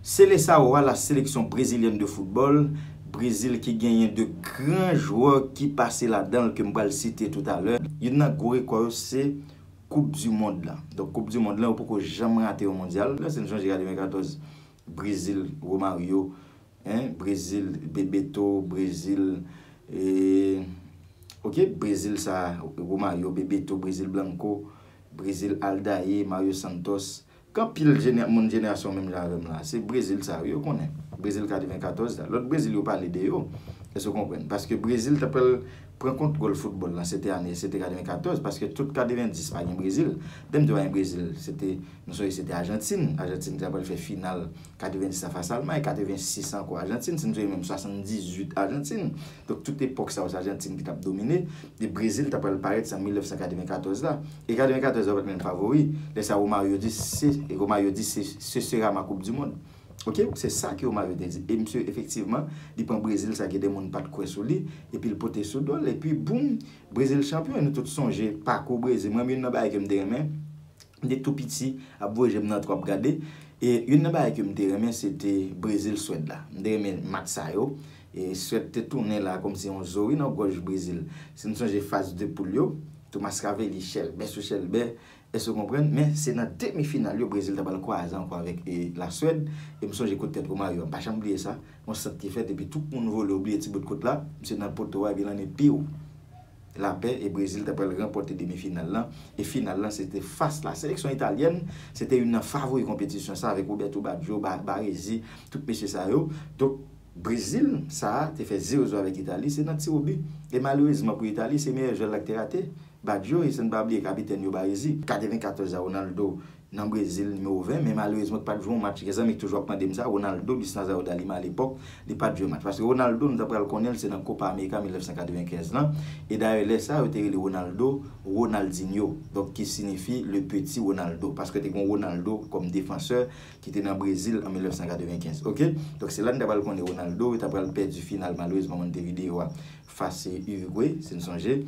Seleçao a la seleksyon brezilyèn de foutbòl, Brezil ki genyen 2 gran jwè ki pase ladan l ke m pral site toutalè. Youn nan gwo rekò yo se koup di mond lan. Donk koup di mond lan yo poko janm rate yon mondyal. Lè se n sonje ka 2014 Brezil Romario, en, Brezil Bebeto, Brezil e ok Brezil sa Romario, Bebeto, Brezil Blanco, Brezil Aldair, Mario Santos, K anpil jenè moun jenerasyon menm jan avèm la se brezil sa wi yo konnen brezil 94 la lòt brezil yo pale de yo èske w konprann paske brezil ta pral pran kontwòl foutbòl la se te ane se te 94 paske tout 90 pa gen brezil lè m di yo pa gen brezil se te nou sonje se te ajantin ajantin ki ta pral fè final 90 la fas almay 86 ankò ajantin si m sonje menm 78 ajantin Donk tout epòk sa yo se Ajantin ki t ap domine e Brezil t ap pral parèt se an 1994 la. E 94 la yo pa t menm favori. Lè sa Romario di se Romario di se ce sera ma coupe du monde. Ok, se sa ke Romario te di. E misye efektivman li pran Brezil sa gen de moun pa t kwè sou li epi l pote sou do l epi boum Brezil chanpyon e nou tout sonje pakou Brezil. Mwen menm youn nan bagay ke m te renmen M te tou piti ap voye je m nan twò ap gade e youn nan bagay ke m te renmen se te Brezil, Swèd la. M te renmen match sa yo e Swèd te tounen la kòmsi yon zo wi nan gòj Brezil. Si n sonje faz de poul yo, Thomas Ravelli chèlbè sou chèlbè, èske w konprann? Men se nan demi final yo Brezil ta pral kwaze ankò avèk La Swèd e m sonje kout tèt Romario a. M pa janm bliye sa, yon sant ki fèt epi tout moun vole ou bliye ti bout kout la, misye nan poto a epi lan epiw. lapè e Brezil ta pral ranpòte demi final lan e final lan se te fas la seleksyon italyèn se te youn nan favori konpetisyon sa avèk Roberto Baggio, Baresi tout mesye sa yo donk Brezil sa te fè ze ozo avèk Itali se nan tirobi e malerezman pou Itali se meyè jwè la ki te rate Baggio e san n pa bliye kapitèn yo Baresi. 94 a Ronaldo nan Brezil nimewo 20 men malerezman ki pa t jwe yon match gen zanmi ki toujou ap mande m sa Ronaldo Luis Nazario da Lima alepòk li pa t jwe match paske Ronaldo nou ta pral konnen l se nan Copa America 1995 lan e dayè lè sa yo te rele Ronaldo Ronaldinho donk ki sinifi le petit Ronaldo paske te gen yon Ronaldo kòm defansè ki te nan Brezil an 1995 ok donk se la nou ta pral konnen Ronaldo yo ta pral pèdi final malerezman Montevideo a fas Uruguay si n sonje.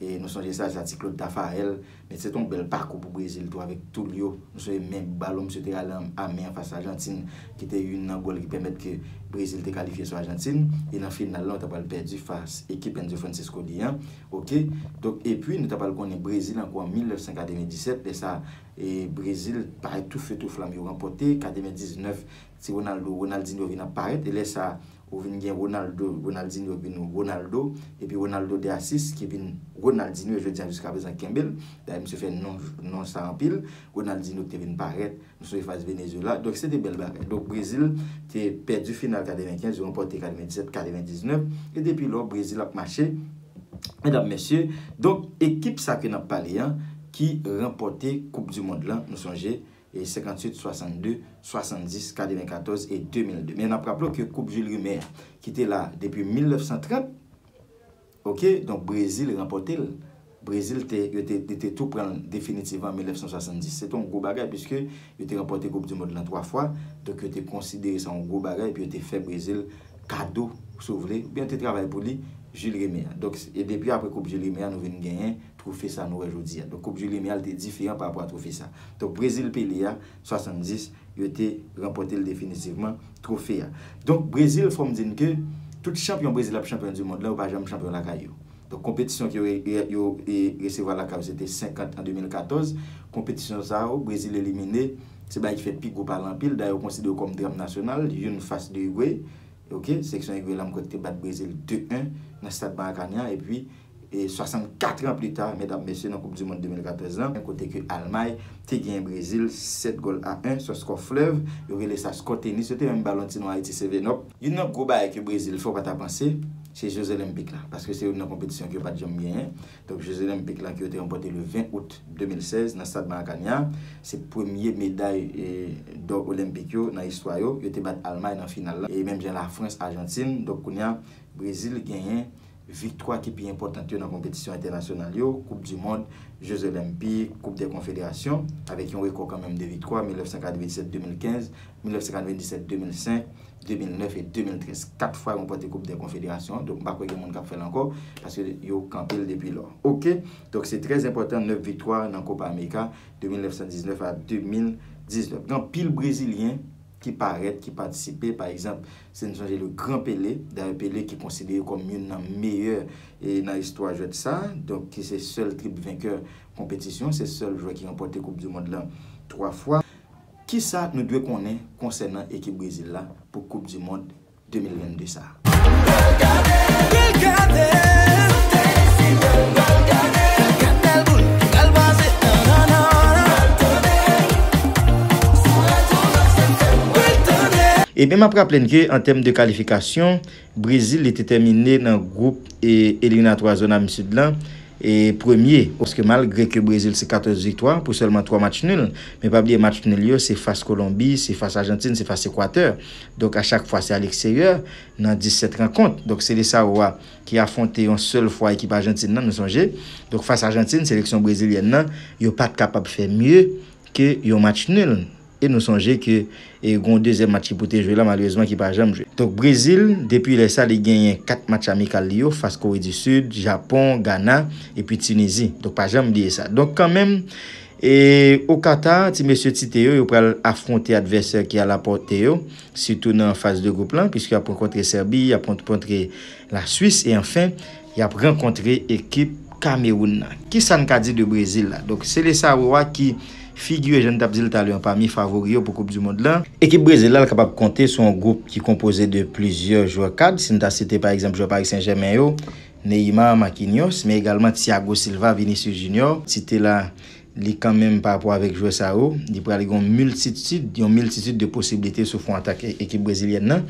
E nou sonje sa sa ti Claude Tafarel met se te yon bèl pakou pou Brezil tou avèk Tulio. Nou sonje men balon msye te rale a men an fas Ajantin ki te youn nan gòl ki pèmèt ke Brezil te kalifye sou Ajantin e nan final la ou ta pral pèdi fas ekip Enzo Francescoli an ok. Donk epi nou ta pral konnen Brezil ankò an 1997 lè sa Brezil pa tou feu tou flam yo ranpòte 99 Ti Ronaldo, Ronaldinho vin ap parèt e lè sa a ou vin gen Ronaldo, Ronaldinho ki vin Ronaldo epi Ronaldo de Assis ki vin Ronaldinho jodi an jiska prezan kenbe l. Dayè misye fè non non sa anpil. Ronaldinho ki te vin parèt, nou sonje fas Venezuela. Donk se te bèl bagay. Donk Brezil te pèdi final 95, yo ranpòte 97, 99 e depi lò Brezil ap mache medam mesye. Donk ekip sa ke n ap pale an ki ranpòte koup dimond lan nou sonje. 58, 62, 70, 94 e 2002. Men nap raple w ke koup Jules Rimet a ki te la depi 1930, ok, donk Brezil ranpòte l. Brezil te, yo te, yo te tou pran l definitivman an 1970. Se te yon gwo bagay piske yo te ranpòte koup di mond lan 3 fwa, donk yo te konsidere sa yon gwo bagay epi yo te fè Brezil kado, si w vle, oubyen yo te travay pou li, Jules Rimet a. Donk, e depi apre koup Jules Rimet a nou vin genyen. twofe sa nou wè jodi a. Donk koup du Lemial te diferan pa rapò a twofe sa. Donk Brezil Pele a, 70, yo te ranpòte l definitivman, twofe a. Donk Brezil fò m di n ke tout chanpyon Brezil ap chanpyon du mond la yo pa janm chanpyon lakay yo. Donk konpetisyon ke yo resevwa lakay yo se te 50 an 2014, konpetisyon sa yo Brezil elimine, se bagay ki fè pi gwo pale anpil, dayè yo konsidere yo kòm dram nasyonal, youn fas de Uruguay, ok, seleksyon Uruguay la m kwè ki te bat Brezil 2-1 nan stad Maracanã epi 64 ans plus tard medam mesye nan koup du mond 2014 lan kote ke Almay te genyen Brezil 7 gòl a 1 sò skò flèv yo rele sa skò tenis yo te menm ba lon ti non Ayiti sevenòp. Youn nan gwo bagay ke Brezil fè w pa ta panse se Jezolenpik la paske se youn nan konpetisyon ke yo pat janm genyen donk Jezolenpik la ke yo te ranpòte le 20 out 2016 nan stad Maracania se premye meday dò olenpik yo nan istwa yo yo te bat Almay nan final la e menm jan Lafrans Ajantin donk kounya Brezil genyen Viktwa ki pi enpòtant yo nan konpetisyon entènasyonal yo, Koup di Mond, Je Zolenpik, Koup dè Konfederasyon, avèk yon rekò kanmenm de viktwa, 1997, 2015, 1997, 2005, 2009 e 2013. Kat fwa ranpòte Koup dè Konfederasyon, donk m pa kwè gen moun k ap fè l ankò, paske yo kanpe l depi lò. Ok, donk se trè enpòtan 9 viktwa nan Kopa Amerika de 1919 a 2019. Gen anpil Brezilyen ki parèt, ki patisipe, pa egzanp, Si n sonje le gran Pele, dayè Pele ki konsidere kòm youn nan meyè nan istwa jwèt sa, donk ki se sèl trip venkè konpetisyon, se sèl jwè ki ranpòte koup di mond lan 3 fwa. Kisa nou dwe konnen konsènan ekip Brezil la pou koup di mond 2022 sa? Ebyen map raple n ke an tèm de kalifikasyon, Brezil li te tèmine nan gwoup eliminatwa zòn am sid lan premye. Paske malgre ke Brezil se 14 viktwa pou sèlman 3 match nul, men pa bliye match nul yo se fas Kolonbi, se fas Ajantin, se fas Ekwatè. Donk a chak fwa se a leksteryè nan 17 rankont. Donk Seleçao a ki afwonte yon sèl fwa ekip Ajantin nan nou sonje. Donk fas Ajantin seleksyon Brezilyèn nan yo pat kapab fè mye ke yon match nul e nou sonje ke e gon dezyèm match ki pou te jwe la malerezman ki pa janm jwe. Donk Brezil depi lè sa li genyen 4 match amikal li yo fas Kore di Sid, Japon, Gana epi Tinizi. Donk pa janm bliye sa. Donk kan menm e o Qatar ti mesye Tite yo yo pral afwonte advèsè ki a la pòte yo sitou nan faz de gwoup lan piske yap rankontre Sèbi, yap rankontre la Swis e anfen Y ap rankontre ekip Kamewoun nan. Kisa n ka di de Brezil la? Donk, Seleçao a ki figure, jan n t ap di l talè an, pami favori yo pou koup du mond lan. Ekip Brezil la l kapab konte sou yon gwoup ki konpoze de plizyè jwè kad, si n ta site pa egzanp jwè Paris Saint-Germain yo, Neymar, Marquinhos, men egalman Thiago Silva, Vinicius Junior, site la. Li kanmenm pa rapò avèk jwè sa yo, li pral gen yon miltitid, yon miltitid de posiblite sou fwon atak ekip brezilyèn nan.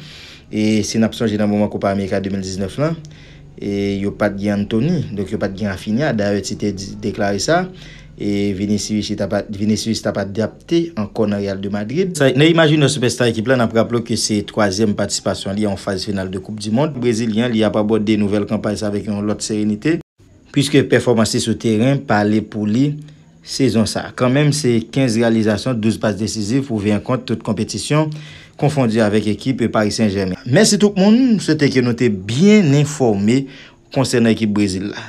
E si n ap sonje nan moman Kopa Amerika 2019 lan, e yo pat gen Antony, donk yo pat gen Raphinha, dayè Tite deklare sa, e Vinicius ta pa, Vinicius ta pa adapte ankò nan Real de Madrid. Sa, Neymar Junior sipèsta ekip la, n ap raple w ke se twazyèm patisipasyon li an yon faz final de Koup Dimond. Brezilyen an, li ap abòde nouvèl kanpay sa avèk yon lòt serenite. Puiske pèfòmans li sou teren pale pou li sezon sa. Kanmenm se 15 reyalizasyon, 12 pas desiziv pou 20 kont tout konpetisyon konfondi avèk ekip Paris Saint-Germain. Mèsi tout moun, m swete ke nou te byen enfòme konsènan ekip Brezil la.